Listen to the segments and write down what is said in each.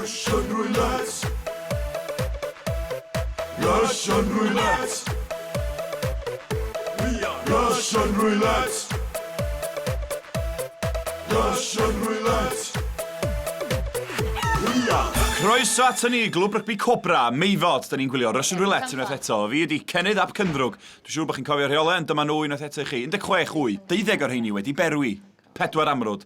Russian roulette. Russian roulette. We are Russian roulette. Russian roulette. We are. Croeso at ni, glwb rygbi Cobra, Meifod. Da ni'n gwylio Russian Roulette unwaith eto. Fi ydi Cennydd ap Cyndrwg. Dwi'n siŵr bod chi'n cofio rheolau, ond dyma nhw unwaith eto i chi. 16 wy, 12 o'r rheini wedi berwi. Pedwar amrwd.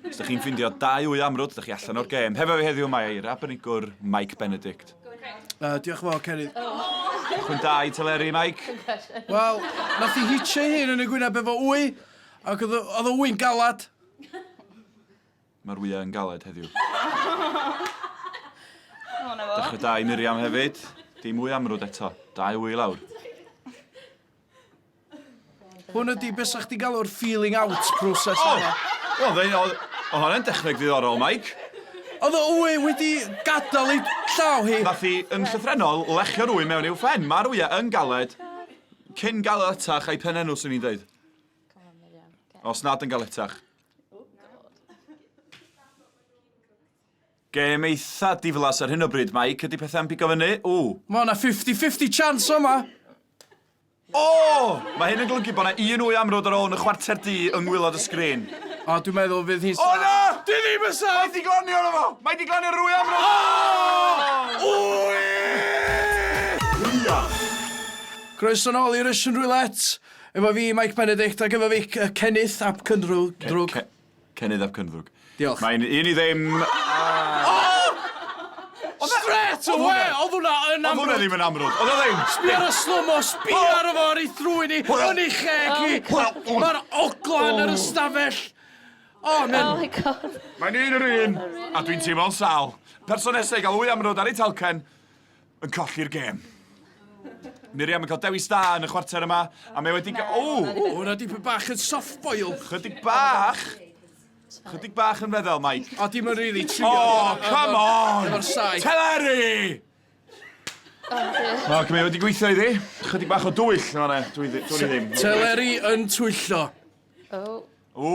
Os dych chi'n ffindio dau wy amrwd, dych chi allan o'r gêm. Hefo fi heddiw mae Eir Abenigwr, Mike Benedict. Uh, diolch yn fawr, Cerydd. Chwyn da i teleri, Mike. Wel, nath i hitio ei hun yn y gwyneb efo wy, ac oedd o- oedd o wy'n galad. Mae'r wyau yn galed heddiw. Dechrau da i Miriam hefyd. Dim wy amrwd eto. Dau wy i lawr. Hwn ydi beth sa chdi'n galw'r feeling out process oh! yma. Wel, fe oedd... Oedd hwnna'n dechneg ddiddorol, Mike. Oedd o wy wedi gadael ei llaw hi. Nath hi yn llythrenol lechio'r wy mewn i'w ffen. Mae'r wyau yn galed. Cyn galetach a'i phen enw, swn i'n dweud. Os nad yn galetach. Gêm eitha diflas ar hyn o bryd, Mike. Ydy pethau'n pigo fyny? Ww. Mae yna 50-50 chance o'ma. O! Mae hyn yn golygu bod 'na un wy amrwd ar ôl yn y chwarter du yng ngwylod y sgrin. O, dwi'n meddwl fydd hi'n... O na! Dwi ddim yn saff! Mae 'di glanio arno fo! Mae 'di glanio ar yr wy amrwd! O! Wy! Gwych! Croeso nôl i Russian Roulette efo fi, Mike Benedict, ac efo fi, Cennyth ap Cyndrwg. Drwg. Cennydd ap Cyndddwg. Diolch. Mae'n un i ddim. Oh! oh! Straight away! Oedd hwnna yn amrwd! Oedd hwnna ddim yn amrwd! Oedd o ddim! Sbi ar y slomo, sbi ar y fo ar ei thrwy ni, yn ei cheg i! Mae'r oglan yr ystafell! Oh, man. Oh my god. Mae'n un yr un, a dwi'n teimlo'n sal. Person nesau i gael wy amrwd ar ei talcen, yn colli'r gêm. Miriam yn cael dewis da yn y chwarter yma, a mae wedi... O! O, hwnna di bach yn soft boil. Chydig bach. Chydig bach yn feddel, Mike. O, dim yn rili trio. O, come on! Efo'r sai. Teleri! O, mae wedi gweithio iddi. Chydig bach o dwyll, no, ne, dwi ddim. Teleri yn twyllo. O. O.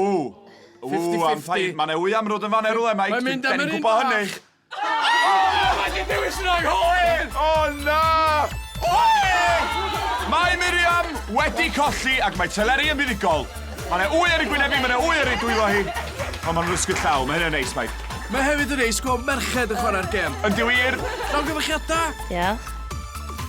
O, am ffaith. Mae'n ewy amrwd yn fan erwle, Mike. Mae'n mynd am yr un bach. Oh, mae di dewis yn o'i hoed! Oh, na! Oe! Mae Miriam wedi colli ac mae teleri yn fuddugol. Mae yna wy ar ei gwyneb hi, mae yna wy ar ei dwylo hi. Ond mae'n rysgyd llaw, mae hynny'n neis, Mike. Mae hefyd yn neis gweld merched yn chwarae'r gem. Yn di wir? Nawn gyfechiadau? Diolch.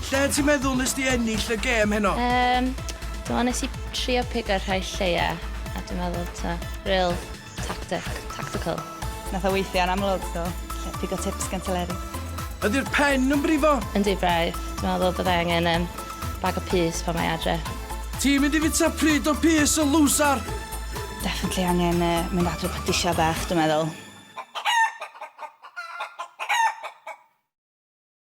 Lle ti'n meddwl nes di ennill y gem heno? Um, dwi'n meddwl nes i trio pigo'r rhai lleia, a dwi'n meddwl ta, real Tactic, tactical. Nath o weithio yn amlwg, so lle pigo tips gan Teleri. Ydy'r pen yn brifo? Yndi braidd, dwi'n meddwl byddai angen um, bag o pys pan mae adre. Ti'n mynd i fita pryd o pys y lwsar? Definitely angen uh, mynd adre pa disiau bach, dwi'n meddwl.